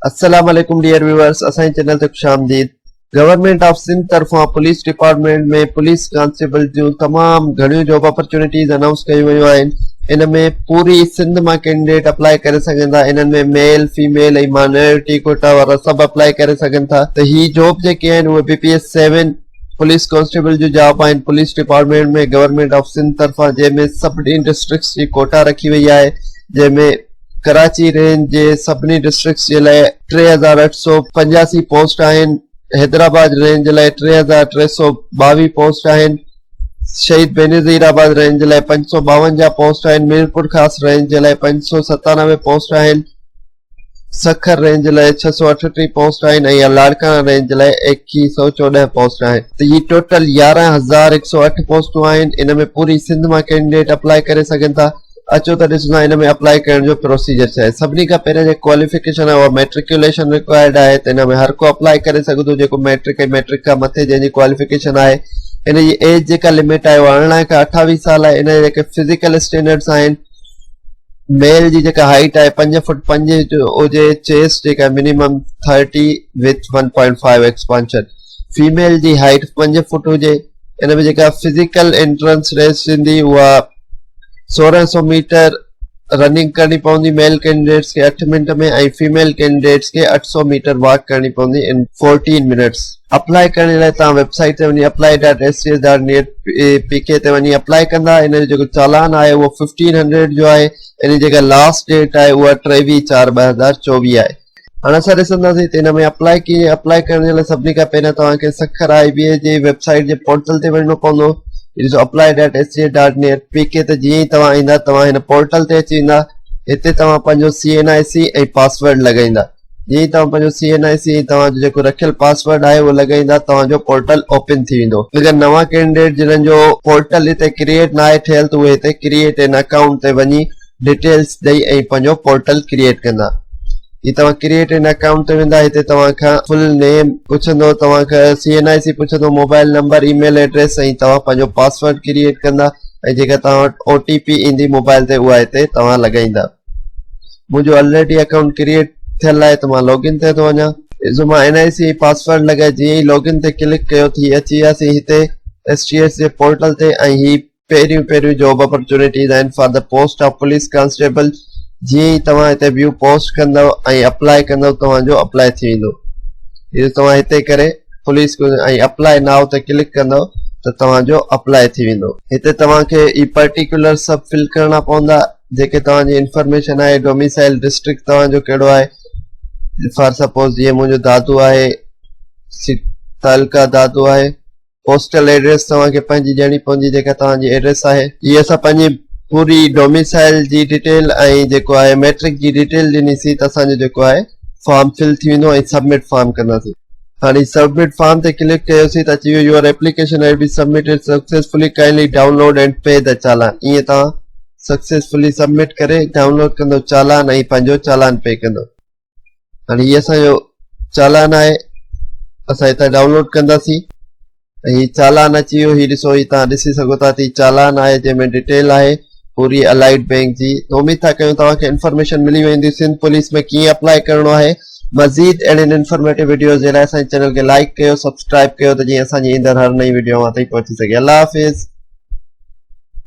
السلام عليڪم dear viewers اسان جي چينل تي خوش آمديد گورنمنٽ آف سنڌ طرفان پوليس ڊپارٽمنٽ ۾ پوليس ڪانسٽيبل جون تمام گهڻيون جاب اپرچونٽيز انائونس ڪيون ويون آهن ان ۾ پوري سنڌ مان ڪينڊيڊيٽ اپلاء ڪري سگهن ٿا انهن ۾ ميل فيميل ۽ مانورٽي ڪوٽا وارا سڀ اپلاء ڪري سگهن ٿا ته هي جاب جيڪي آهن اهي B P S seven police constable جون جاب آهن police department ۾ government of Sindh طرفان جنهن ۾ سڀني ڊسٽرڪٽس جي ڪوٽا رکي وئي آهي جنهن ۾ ڪراچي رينج جي سڀني ڊسٽرڪٽس جي لاء ٽي هزار اٺ سؤ پنجاسي پوسٽ آهن، حيدرآباد رينج جي لاء ٽي هزار ٽي سؤ ٻاويهه پوسٽ آهن، شهيد بينظير آباد رينج جي لاء پنج سؤ ٻاونجاهه پوسٽ آهن، ميرپورخاص رينج جي لاء پنج سؤ ستانوي پوسٽ آهن، سکر رينج جي لاء ڇهه سؤ اٺٽيهه پوسٽ آهن ۽ لاڙڪاڻا رينج جي لاء ايڪيهه سؤ چوڏهن پوسٽ آهن. ته هي ٽوٽل يارهن هزار هڪ سؤ اٺ پوسٽون آهن، ان ۾ پوري سنڌ مان ڪينڊيڊيٽ اپلائي ڪري سگهن ٿا. اچو ته ڏسندان ان ۾ اپلائي ڪرڻ جو پروسيجر ڇا آهي سڀني کان پهريان جيڪي ڪواليفڪيشن آهي اها ميٽرڪيوليشن رڪوائرڊ آهي ته ان ۾ هر ڪو اپلائي ڪري سگهي ٿو جيڪو ميٽرڪ ۽ ميٽرڪ کان مٿي جنهن جي ڪواليفڪيشن آهي ان جي ايج جيڪا لمٽ آهي اها ارڙهن کان اٺاويهه سال آهي ان جا جيڪي فزيڪل اسٽينڊرڊس آهن ميل جي جيڪا هائيٽ آهي پنج فٽ پنج هجي چيسٽ جيڪا minimum thirty with one point five expansion female جي هائيٽ پنج فٽ هجي ان ۾ جيڪا فزيڪل انٽرنس ريس ٿيندي اها سورهن سو ميٽر رننگ ڪرڻي پوندي ميل ڪينڊيڊيٽس کي اٺ منٽ ۾ ۽ فيميل ڪينڊيڊيٽس کي اٺ سو ميٽر واڪ ڪرڻي پوندي ان فورٽين منٽس اپلائي ڪرڻ لاء توهان ويب سائيٽ تي وڃي apply dot S C S dot net P K تي وڃي اپلائي ڪندا ان جو جيڪو چالان آهي اهو ففٽين هنڊريڊ جو آهي ان جي جيڪا لاسٽ ڊيٽ آهي اها ٽيويهه چار ٻه هزار چوويهه آهي هاڻ اسان ڏسنداسين ته ان ۾ اپلائي ڪيئن ۽ اپلائي ڪرڻ جي لاء سڀني کان پهريان توهان کي سکر آء بي اي جي ويب سائيٽ جي پورٽل تي وڃڻو پوندو ڏسو apply dot S C A dot net P K تي جيئن ئي توهان ايندا توهان هن پورٽل تي اچي ويندا هتي توهان پنهنجو C N I C ۽ password لڳائيندا جيئن ئي توهان پنهنجو سي اين آء سي ۽ توهان جو جيڪو رکيل پاسورڊ آهي اهو لڳائيندا توهان جو پورٽل اوپن ٿي ويندو اگر نوان ڪينڊيڊيٽ جنهن جو پورٽل هتي ڪريئيٽ ناهي ٿيل ته اهي هتي ڪريئيٽ اين اڪائونٽ تي وڃي ڊيٽيلز ڏئي ۽ پنهنجو پورٽل ڪريئيٽ ڪندا جي توهان ڪريئيٽ ان اڪائونٽ تي ويندا هتي توهان کان فل نيم پڇندو توهان کان سي اين آئي سي پڇندو mobile number email address ۽ توهان پنهنجو پاسورڊ ڪريئيٽ ڪندا ۽ جيڪا توهان وٽ او ٽي پي ايندي موبائل تي اها هتي توهان لڳائيندا منهنجو آلريڊي اڪائونٽ ڪريئيٽ ٿيل آهي ته مان لاگ ان تي ٿو وڃان جو مان اين آئي سي ۽ پاسورڊ لڳائي جيئن ئي لاگ ان تي ڪلڪ ڪيو ٿي اچي وياسين هتي ايس ٽي ايس جي پورٽل تي ۽ هي پهريون پهريون جاب اپرچونيٽيز آهن for the post of police constable جيئن ئي توهان هتي ويو پوسٽ ڪندو ۽ اپلاء ڪندو توهان جو اپلاء ٿي ويندو جي توهان هتي ڪري پوليس ۽ اپلاء ناء تي ڪلڪ ڪندو ته توهان جو اپلاء ٿي ويندو هتي توهان کي هي پرٽيڪولر سڀ فل ڪرڻا پوندا جيڪي توهان جي انفارميشن آهي ڊوميسائل ڊسٽرڪٽ توهان جو ڪهڙو آهي فار سپوز جيئن منهنجو دادو آهي تعلقه دادو آهي پوسٽل ايڊريس توهان کي پنهنجي ڏيڻي پوندي جيڪا توهان جي ايڊريس آهي جي اسان پنهنجي پوري ڊوميسائل جي ڊيٽيل ۽ جيڪو آهي ميٽرڪ جي ڊيٽيل ڏني سي ته اسان جو جيڪو آهي فارم فل ٿي ويندو ۽ سبمٽ فارم ڪنداسي هاڻي سبمٽ فارم تي ڪلڪ ڪيو سي ته اچي ويو your application has been submitted successfully kindly download and P ته چالان ائين توهان سڪسيسفلي سبمٽ ڪري ڊائونلوڊ ڪندو چالان ۽ پنهنجو چالان پي ڪندو هاڻي هي اسان جو چالان آهي اسان هتان ڊائونلوڊ ڪنداسين هي چالان اچي ويو هي ڏسو هي تان ڏسي سگهو ٿا تي چالان آهي جنهن ۾ ڊيٽيل آهي پوري الائيڊ بينڪ جي اميد ٿا ڪيون توهان کي انفارميشن ملي ويندي سنڌ پوليس ۾ ڪيئن اپلائي ڪرڻو آهي مزيد اهڙين انفارميٽو ويڊيوز جي لاء اسان چينل کي لائڪ ڪيو سبسڪرائب ڪيو ته جيئن اسان جي ايندڙ هر نئين ويڊيو اوهان تائين پهچي سگهي الله حافظ